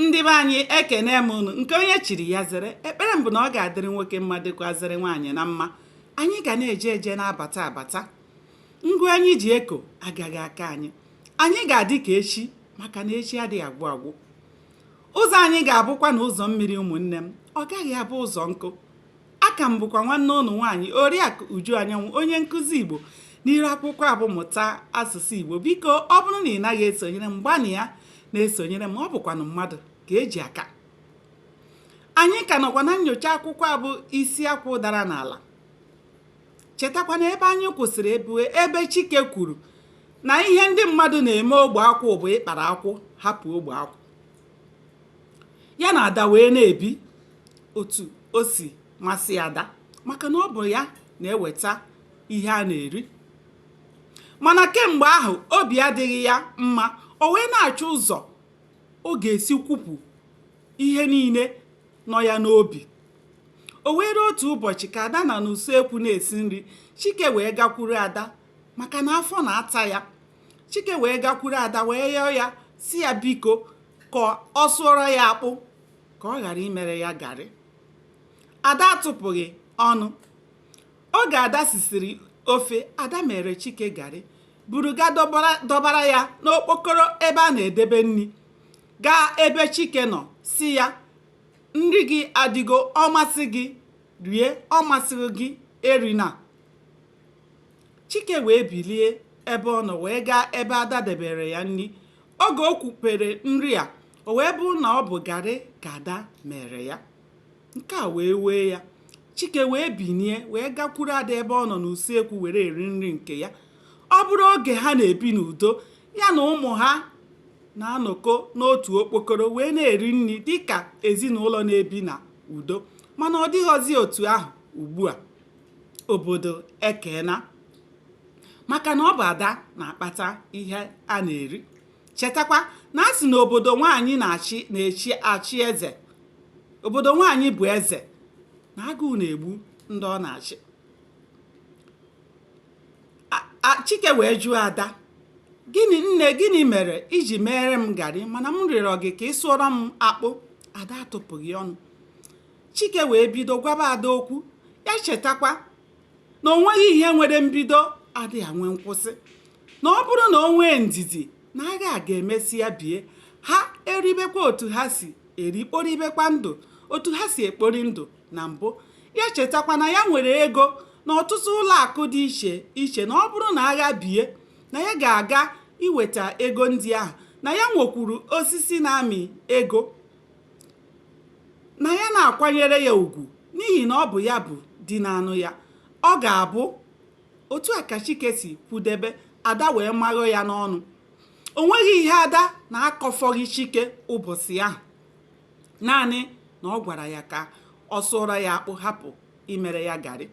ndị be anyị ekenee m unu nke onye chiri ya zere ekpere m bụ na ọ ga-adịrị nwoke mma dịkwazịrị nwaanyị na mma anyị ga na-eje eje na-abata abata ngụ anyị ji eko agaghị aka anyị anyị ga-adị ka echi maka na echi adịghị agwụ agwụ ụzọ anyị ga-abụkwanụ ụzọ mmiri ụmụnne m ọ gaghị abụ ụzọ nkụ a ka m bụkwa nwanne unu nwaanyị oriakụ uju anyanwụ onye nkụzi igbo n'iru akwụkwọ a bụ mụta asụsụ igbo biko ọ bụrụ na ị naghị esonyere m gbanịa na-esonyere m ọ bụkwanụ mmadụ ka e ji aka anyị ka nọkwa na nyocha akwụkwọ a bụ isi akwụ dara n'ala chetakwa na ebe anyị kwụsịrị bụ ebe chike kwuru na ihe ndị mmadụ na-eme ogbe akwụ bụ ịkpara akwụ hapụ ogbe akwụ ya na ada wee na-ebi otu o si masị ada maka na ọ bụ ya na-eweta ihe a na-eri mana kemgbe ahụ obi adịghị ya mma o wee na-achọ ụzọ ọ ga-esi kwupụ ihe niile nọ ya n'obi o nwere otu ụbọchị ka ada nọ n'usekwu na-esi nri chike wee gakwuru ada maka na afọ na-ata ya chike wee gakwuru ada wee yọọ ya sị ya biko ka ọ sụọrọ ya akpụ ka ọ ghara imere ya garị ada atụpụghị ọnụ oge ada sisiri ofe ada mere chike garị buru gaa dọbara ya n'okpokoro ebe a na-edebe nri gaa ebe chike nọ sị ya nri gị adịgo ọ masị gị rie ọ masịghị gị erina Chike wee bilie ebe ọ nọ wee gaa ebe Ada debere ya nri. Oge o kwupere nri a, o wee bụrụ na ọ bụ garị ka Ada mere ya. Nke a wee wee ya. Chike wee binie wee gakwuru Ada ebe ọ nọ n'usekwu were eri nri nke ya. Ọ bụrụ oge ha na-ebi n'udo, ya na ụmụ ha na-anọkọ n'otu okpokoro wee na-eri nri dịka ezinụlọ na-ebi na udo. Mana ọ dịghọzi otu ahụ ugbu a. obodo ekena maka na ọ bụ ada na-akpata ihe a na-eri chetakwa na a sị na obodo nwaanyị na-achị na-echi achị eze obodo nwaanyị bụ eze na agụụ na-egbu ndị ọ na-achị chike wee jụọ ada gịnị nne gịnị mere i ji mere m garị mana m rịọrọ gị ka ị sụọrọ m akpụ ada atụpụghị ọnụ chike wee bido gwaba ada okwu ya chetakwa na o nweghị ihe nwere mbido adịghị enwe nkwụsị na ọ bụrụ na o nwee ndidi na agha a ga-emesịa bie ha eribekwa otu ha si eri kporibekwa ndụ otu ha si ekpori ndụ na mbụ ya chetakwa na ya nwere ego n'ọtụtụ ụlọ akụ dị iche iche na ọ bụrụ na agha bie na ya ga-aga iweta ego ndị ahụ na ya nwekwuru osisi na-amị ego na ya na-akwanyere ya ugwu n'ihi na ọ bụ ya bụ di na-anụ ya ọ ga-abụ otu a ka chike si kwudebe ada wee maghọ ya n'ọnụ o nweghị ihe ada na-akọfọghị chike ụbọchị ahụ naanị na ọ gwara ya ka ọ sụọrọ ya akpụ hapụ imere ya garị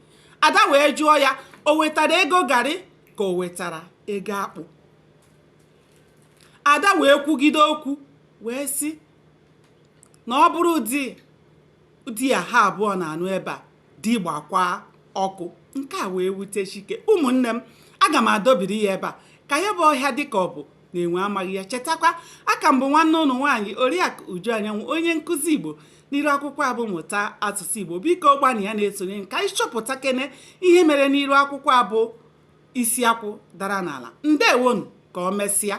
ada wee jụọ ya o wetara ego garị ka o wetara ego akpụ ada wee kwugide okwu wee sị na ọ bụrụ ụdị di a ha abụọ na-anụ ebe a di gbakwa ọkụ nke a wee wute chike ụmụnne m aga m adọbiri ya ebe a ka ya bụ ọhịa dịka ọ bụ na enwe amaghị ya chetakwa a ka m bụ nwanne unu nwaanyị oriakụ uju anyanwụ onye nkụzi igbo n'iru akwụkwọ a bụ mụta asụsụ igbo biko gbanịa na-esonye ka anyị chọpụta kene ihe mere n'iru akwụkwọ a bụ isi akwụ dara n'ala ndewonu ka ọ mesịa